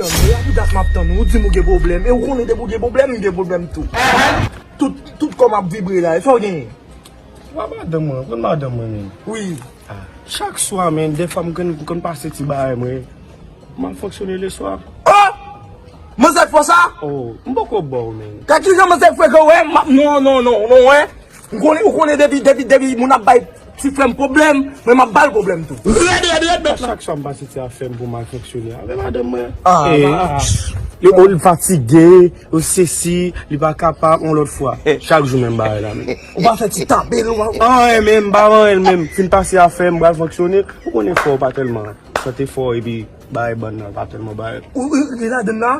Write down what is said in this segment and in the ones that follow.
Tann ou a pou dat map tann ou, ou dim ou gen pwoblèm e ou konnen depi ou gen pwoblèm m gen pwoblèm tou tout tout kòm ap vibre la esaw genyen? Wa madanm mwen, ou konn madanm mwen menm? Wi ah chak swa menn defwa m konn m konn pase ti bagay mwen mal fonksyone leswa oh manzè fò sa oh m poko baw menn. Gad kijan manzè frekan wè m ap non non non non wè. Ou konnen depi depi depi moun ap bay ti frèm pwoblèm mwen map bal pwoblèm tou. Rèd rèd rèd mèt la. Achak fwa m pase ti afèm pou m al fonksyone avè madanm mwen. Li oh li fatige, oh sesi, li pa kapab yon lòt fwa. Chak jou menm bagay la menm. Ou pa fè ti tape nou an. An an menm, m pa an an menm. Fin pase afèm, bal fonksyone. Ou konnen fò pa tèlman sante fò epi bagay bann nan pa tèlman bay. Ou li ladann la?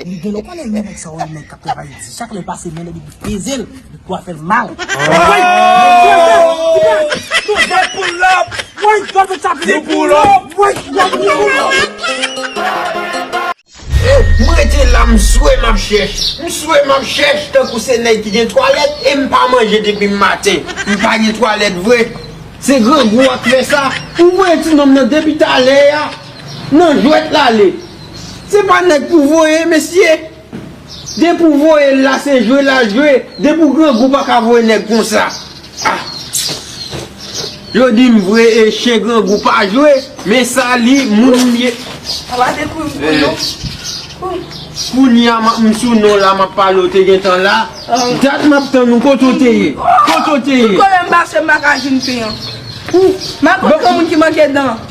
Li genlè konnen wi nèg sa yo nèg kap travay di chak lèl pase men li depi pezel li pwa fèl mal. M rete la m swe map chèch M swe map chèch tankou se nèg ki gen twalèt e m pa manje depi m maten M pa gen twalèt vre Se grangou wap fè sa Ou voye ti nonm nan depi talè a Nan jwèt l ale. Se pa nèg pou voye mesye. Depi ou voye l la se jwe lal jwe. Depi ou grangou ou pa ka voye nèg konsa. Ah. Yo di m vre e chen grangou pa jwe. Men sa li moun m ye. Ou pa te kouri pou nou. Ooh. Kounye a map m sou non la map pale ou te gentan la. Dat map tann ou kote ou te ye. Kote ou te ye. Tout kote m pase m pa ka jwenn pen an. Ooh. Map pran moun ki manke dan.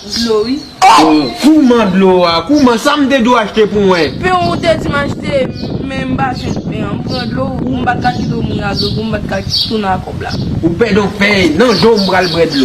Dlo wi. Oh! Kouman dlo a? Kouman? Sa m te dwe achte pou mwen? Pen ou te di m achte, men m pa jwenn pen an. M pran dlo ou, m pa t ka kite w mouri ak dlo pou m pa t ka tounen ak kòb la. Ou pè donk pen e nan je w m pral bwè dlo.